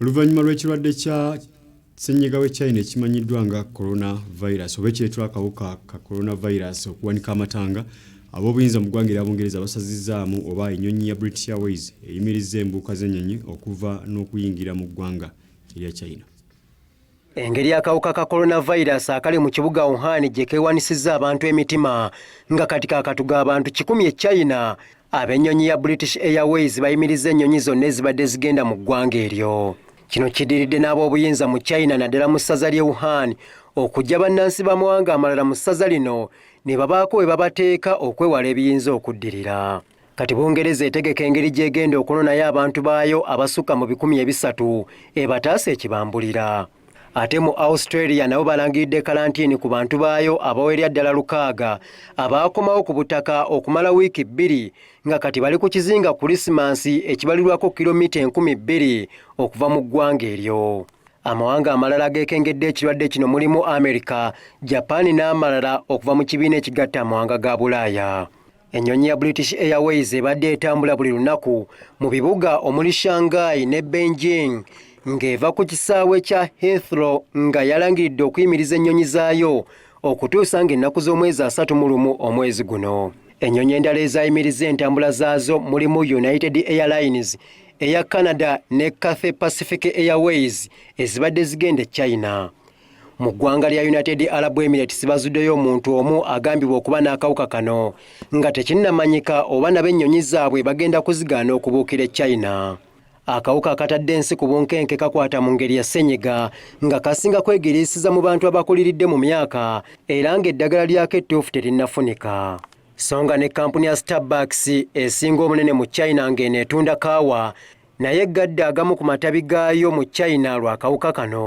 Oluvannyuma lw'ekirwadde kya ssennyiga w'e China ekimanyiddwa nga coronavirus oba ekireetera akawuka ka coronavirus okuwanika amatanga, ab'obuyinza mu ggwanga erya Bungereza basazizzaamu oba ennyonyi ya British Airways eyimirizza embuuka z'ennyonyi okuva n'okuyingira mu ggwanga erya China. Engeri akawuka ka coronavirus akali mu kibuga Wuhan gye keewanisizza abantu emitima nga kati kakatuga abantu kikumi e China, ab'ennyonyi ya British Airways bayimirizza ennyonyi zonna ezibadde zigenda mu ggwanga eryo. Kino kidiridde n'ab'obuyinza mu China naddala mu ssaza ly'e Wuhan okujja bannansi b'amawanga amalala mu ssaza lino ne babaako we babateeka okwewala ebiyinza okuddirira. Kati Bungereza etegeka engeri gy'egenda okunonayo abantu baayo abasukka mu bikumi ebisatu ebataasa ekibambulira. Ate mu Australia nabo balangiridde kalantiini ku bantu baayo abawerera ddala lukaaga abaakomawo ku butaka okumala wiiki bbiri nga kati bali ku kizinga Kulisimansi ekibalirwako kilomita enkumi bbiri okuva mu ggwanga eryo. Amawanga amalala ageekengedde ekirwadde kino mulimu Amerika, Japan n'amalala okuva mu kibiina ekigatta amawanga ga Bulaaya. Ennyonyi ya British Airways ebadde etambula buli lunaku mu bibuga omuli Shanghai ne Beijing ng'eva ku kisaawe kya Heathrow nga yalangiridde okuyimiriza ennyonyi zaayo okutuusa ng'ennaku z'omwezi asatu mu lumu omwezi guno. Ennyonyi endala ezaayimiriza entambula zaazo mulimu United Airlines eya Canada ne Cathay Pacific Airways ezibadde zigenda e China. Mu ggwanga lya United Arab Emirates bazuddeyo omuntu omu agambibwa okuba n'akawuka kano nga tekinnamanyika oba nabo ennyonyi zaabwe bagenda kuzigaana okubuukira e China. Akawuka akatadde ensi ku bunkenke kakwata mu ngeri ya ssenyiga nga kasinga kwegiriisiza mu bantu abakuliridde mu myaka era ng'eddagala lyako ettuufu terinnafunika. Songa ne kkampuni ya Starbucks esinga omunene mu China ng'eno etunda kaawa naye eggadde agamu ku matabi gaayo mu China lw'akawuka kano.